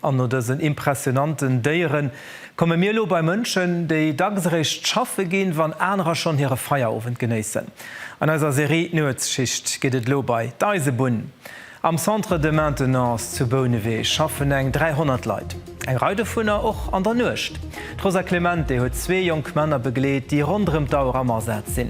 An no dësen impressionanten Déieren komme mir elo bei Mënschen, déi dacks eréischt schaffe ginn, wann anerer schonn hire Feierowend genéissen. An eiser Serie D'Nuetsschicht geet et elo bei d'Eisebunn. Am Centre de Maintenance zu Bouneweg schaffen eng 300 Leit, eng Rei dovunner och an der Nuecht. D'Rosa Clemente huet zwee jonk Männer begleet, déi ronderëm d'Auer am Asaz sinn.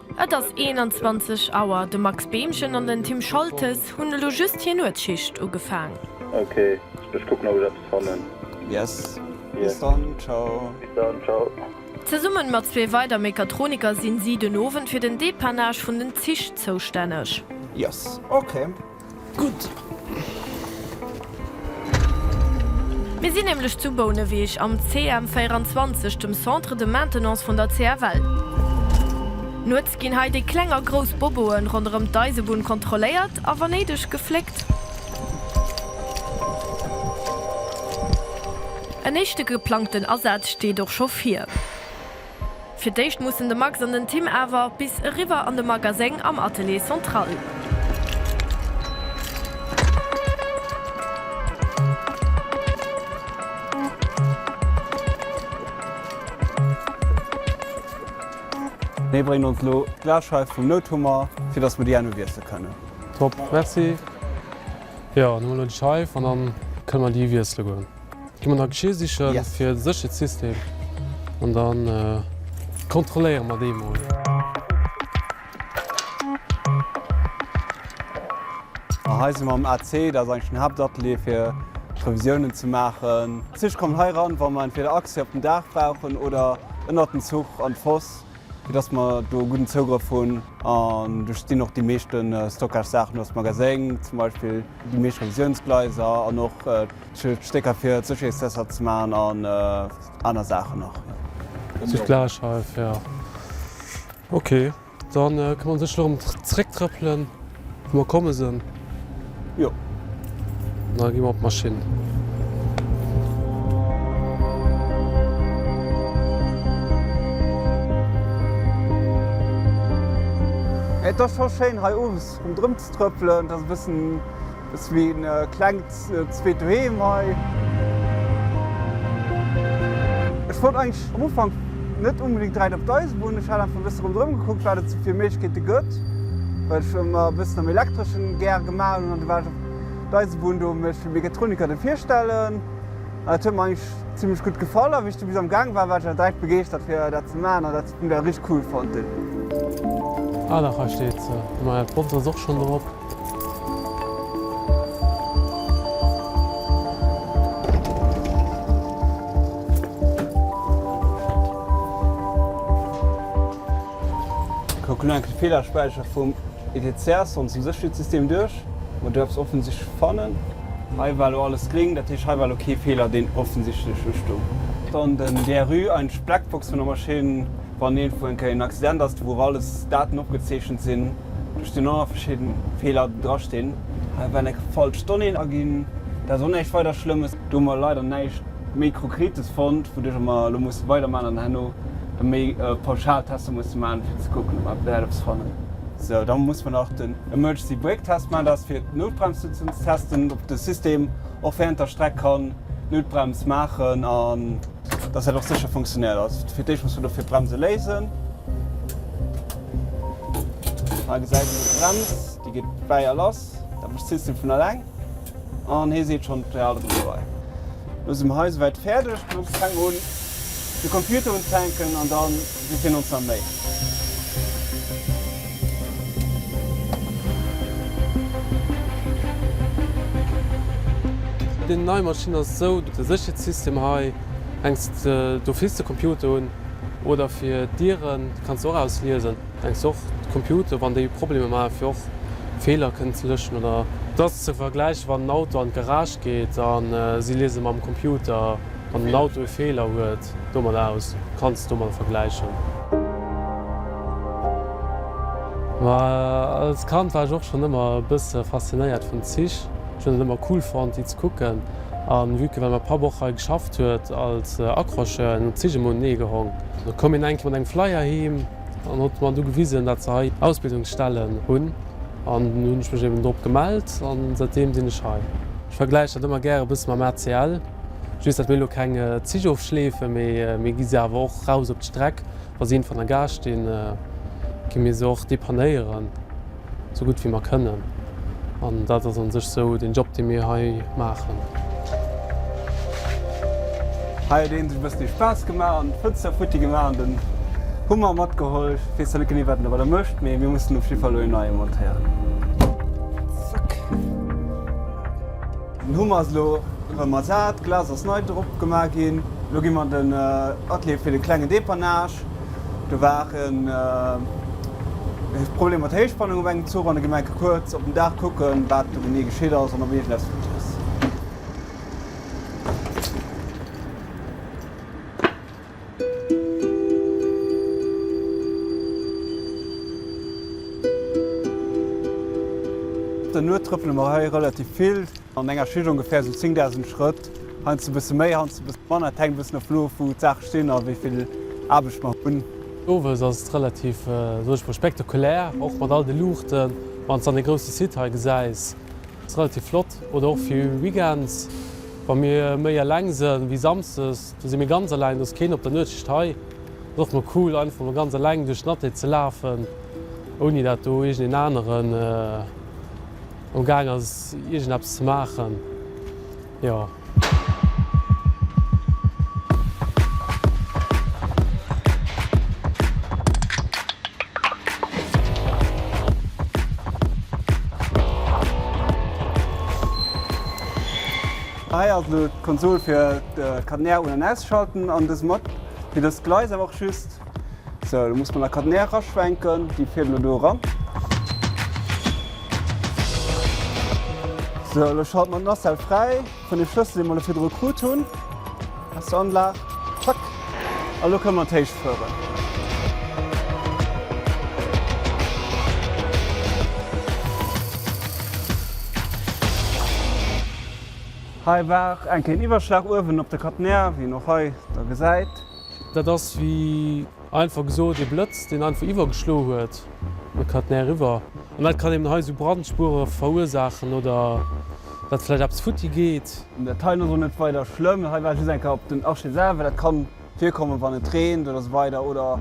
Et ass 21 Auer. De Max Beemchen an den Tim Scholtes hunn elo just hir Nuetsschicht ugefaang. Ok, ech kucken op ech eppes fannen. Yes, bis dann, ciao. Bis dann, ciao. Zesummen mat zwee weider Mechatroniker sinn si den Owend fir den Dépannage vun den Zich zoustänneg. Yes, ok. Gutt. Mir sinn nämlech zu Bouneweg am CM 24, dem Centre de Maintenance vun der CFL. Nuets ginn hei déi kleng a grouss Boboe ronderëm d'Eisebunn kontrolléiert a wa néideg gefléckt. En éischte geplangten Asaz steet och scho vir. Fir d'éischt mussen de Max an den Tim awer bis eriwwer an de Magaséng am Atelier Central. Dee bréngt ons elo d'Glasscheif vum Nouthummer, fir dass mer déi herno wiessle kënnen. Top, Merci. Jo, dann huelen elo déi Scheif an dann kënne mer déi wiessle goen. Gi mer nach Geschir sichen yes. fir séchert System an dann äh, kontrolléiere mat dee mol. Hei si mam AC, dat eng den Haaptatelier fir Revisiounen ze maachen. Zich kommen hei ran, wann man fir der Aktie op den Daach brauchen oder ënner den Zuch an d'Foss, fir dass mer do gudden Zougrëff hunn. An du stinn och déi meeschten äh, Stockage-Saachen aus Magaséng, zum Beispiel déi meescht Revisiounsgleiser an och äh, Schild, Stécker fir d'Sécherheetstester ze maachen an aner Saachen nach. Sech gläich hei fir. Ok, da këmmer mer sech elo ëm d'Zrécktrëppelen, wou mer komme sinn. Jo. Da gi mer op d'Maschinn. Et ass scho schéin hei owes erëm ze trëppelen. Et ass e bëssen. Ass wéi een klengt zweet Doheem hei. Ech wollt eigentlech am Ufank net unbedingt direkt op d'Eisebunn, ech hat einfach e bësse rondrëm gekuckt wat et sou fir Méiglechkeete gëtt, well ech ëmmer e bëssen am Elektreschen gär gemaach hunn an du war ech op d'Eisebunn do mech fir Mechatroniker do virstellen an dat huet mer eigentlech zimlech gutt gefall a wéi ech du bis am Gaang war, war ech awer direkt begeeschtert fir dat ze maachen an dat Modell richteg cool fonnt hunn. Ah dach hei steet se, mä d'Bronze ass och schonn drop. Kucken elo enk de Feelerspäicher vum ETCS, onsen Sécherheetssystem, duerch. Mer duerfs offensichtlech fannen. Hei war elo alles gring, dat heescht hei war elo kee Feeler deen offensichtlech ustoung. Dann den DRU, eideg Blackbox vun der Maschinn, wann iergendwou eng Kéier en Accident ass, wou och alles Daten opgezeechent sinn. Duerch den Error verschidden Feeler dra stinn, evenl. Eng falsch Donnée aginn, dat ass och näischt weider Schlëmmes. Do hu mer leider näischt méi Krokretes fonnt, wouduercher mer elo musse weider man an herno da méi pauschal Tester musse man, fir ze kucken, ob mer eppes fannen. Sou, da musse mer nach den Emergency Brake Test man, dat ass fir d'Noutbremssëtzen ze testen, ob de System och wärend der Streck kann d'Noutbrems maachen an. Dass dat och sécher funktionéiert. Also fir d'éischt muss mer dofir d'Bremse léisen. Hei gesäit een d'Brems, déi geet bäi a lass. Dat mécht d'System vun eleng an hee seet schonn, d'Pedal ass elo bei. Elo si mer hei souwäit fäerdeg. D'Bremse fänkt un, de Computer un ze hänken an dann Mir ginn ons nach Méi. Déi nei Maschinn ass esou. De Sécherheetssystem hei denks de do fils de Computer un. Oder fir Dieren kanns de och ausliesen. Denks och de Computer wann déi Problemer maachen fir och Feeler kënnen ze lëschen oder. Et ass ze vergläichen wann en Auto an d'Garage geet a si liese mam Computer. Wann den Auto e Feeler huet, do mat aus, kanns do mat vergläichen. Ma als Kand war ech och schonn ëmmer e bësse faszinéiert vun Zich. Ech hunn et ëmmer cool fonnt, déi ze kucken. A vue que well mäi Papp och hei geschafft huet als Accrocheur, hunn d'Zich emol nee gehong. Da koum hien eng Kéier mat engem Flyer heem an huet mer du gewisen, dat se hei Ausbildungsstellen hunn. An dunn hunn ech mech eben drop gemellt a säitdeem sinn ech hei. Ech vergläichen dat ëmmer gäre bësse mam ACL. Just dat mir elo keng Zich ofschleefen, mee mir gi se awer och eraus op d'Streck. Wa si een van der Gare stinn, gi mir se och depannéieren, sou gutt wéi mer kënnen. An dat ass an sech sou den Job, dee mir hei maachen. Hei huet een sech e bëssen ee Spaass gemaach an d'Fënster futti gemaach an den Hummer matgeholl. Ech weess zwar net genee, wat en domadder mécht, mee mir mussen op jidde Fall elo een neie montéieren. Zack. Den Hummer ass elo rem ersat, d'Glas ass nei drop gemaach ginn. Elo ginn mer an den Atelier fir den klengen Depannage. Do war en Problem mat der Héichspannung op engem Zuch an da ginn mer enke kuerz op den Daach kucken wat do genee geschitt ass an ob iergendäps gutt ass. Den Nuet trëppele mer hei relativ vill. An enger Schicht ongeféier sou 10.000 Schrëtt. Heiansdo e bësse méi, heiansdo e bësse manner. Et hänkt e bëssen of of, wou d'Saache stinn a wéi vill Aarbecht mer hunn. Owes ass et relativ, soen ech mol, spektakulär, och mat all de Luuchten, wann s de dann dee grousse Site hei gesäis. Et ass relativ flott. Oder och fir Weekends, wa mir méi eleng sinn, wéi samsdes. Do si mir ganz eleng, do ass keen op der Nuetschicht hei. Ass och mol cool einfach mol ganz eleng duerch den Atelier ze lafen, ouni dat do iergendeen aneren am gaang ass iergendeppes ze maachen. Jo. Hei ass elo d'Konsol fir d'Catenaire un an ausschalten an dës mat fir dës Gleis awer och just. Sou, elo muss mer nach Catenaire eraschwenken, déi fiert elo do eran. Sou, elo schalte mer d'Nacelle fräi vun dem Schlëssel dee mer elo virdru krut hunn aus der Anlag. Zack, an elo kënne mer an d'Héicht fueren. Hei war enk een Iwwerschlag uewen op de Catenaire, wéi een och hei da gesäit. Dat ass, wéi einfach gesot, ee Blëtz, deen einfach iwwergeschloe huet, op de Catenaire eriwwer. An dat kann eben hei esou Brandspuere verursaachen oder datt vläicht eppes futti geet. Dat heien ass och net weider schlëmm. Hei war just enk op den Arche selwer. Dat kann Virkommen wann et reent oder esou weider oder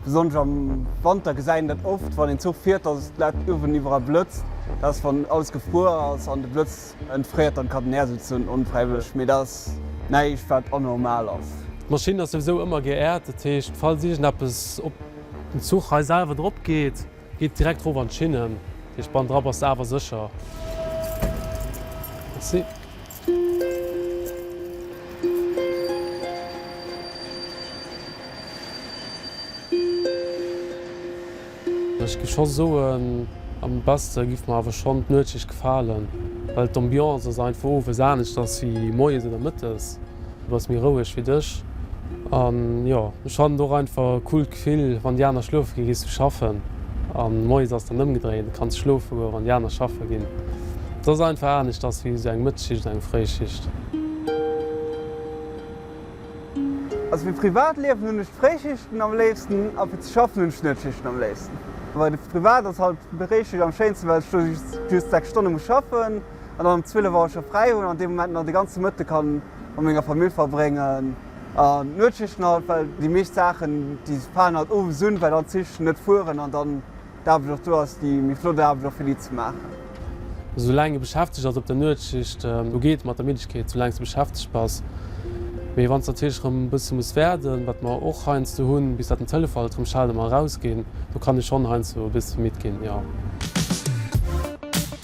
besonnesch am Wanter gesäit een dat oft wann een Zuch fiert, dass et läit uewen iwweraal blëtzt. Dat ass wann alles gefruer ass an de Blëtz entfréiert dann kann den Air souzen onfräiwëlleg, mee dat ass näischt wat anormal ass. D'Maschinn ass souwisou ëmmer geäert, dat heescht falls iergend eppes op den Zuch hei selwer drop geet, Geet direkt roof an d'Schinnen. Dee Spann dra bass de awer sécher. Merci. Ech giff scho soen, am besste giff mer awer schonn d'Nuetschicht gefalen, well d'Ambiance ass einfach owes anescht ass wéi moies oder mëttes. Du bass méi roueg wéi dech. An jo, ech haten och einfach e coolt Gefill, wann déi aner schlofe ginn, gees du schaffen. An moies ass dann ëmgedréint, du kanns schlofe goen, wann déi aner schaffe ginn. Et ass einfach aneschters wéi esou eng Mëttesschicht an eng Fréischicht. Also fir d'Privatliewen hunn ech d'Fréischichten am léifsten a fir ze schaffen hunn ech d'Nëttschichten am léifsten. Bei de Privat ass halt Fréischicht am schéinsten, well ech do just 6 Stonne muss schaffen. an dann um 12 Auer scho fräi hunn an dee Moment nach de ganze Mëtte ka mat menger Famill verbréngen an d'Nuetsschichten halt, well déi meescht Saachen, déi falen halt owes un, well dann d'Zich net fueren an dann d'Aarbecht och do ass, déi méi flott Aarbecht och fir déi ze maachen. Esou laang e beschäftegt ass op der Nuetsschicht, do geet et mat der Middegkeet, esou laang s de beschäftegt bass. Mee wann s natierlech erëm e bësse muss wäerden, wat mer och heiansdo hunn, bis dat den Telefall rëm schellt a mer erausginn, do kann ee schonn heiansdo e bësse midd ginn, jo.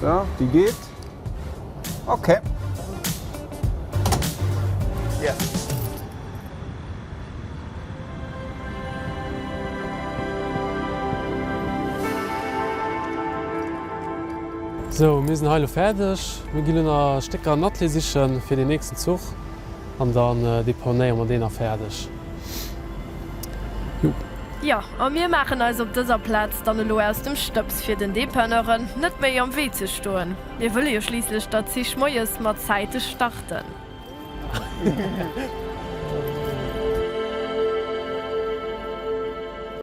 So, déi geet. Ok. Yes. So, mir sinn hei elo fäerdeg. Mir ginn elo nach Stécker an Atelier sichen fir den nächsten Zuch. An dann deponéiere mer deen a fäerdeg. Jup. Jo, a mir maachen eis op dëser Plaz dann elo aus dem Stëbs, fir den Dépanneuren net méi am Wee ze stoen. Mir wëlle jo schliisslech datt d'Zich moies mat Zäite starten.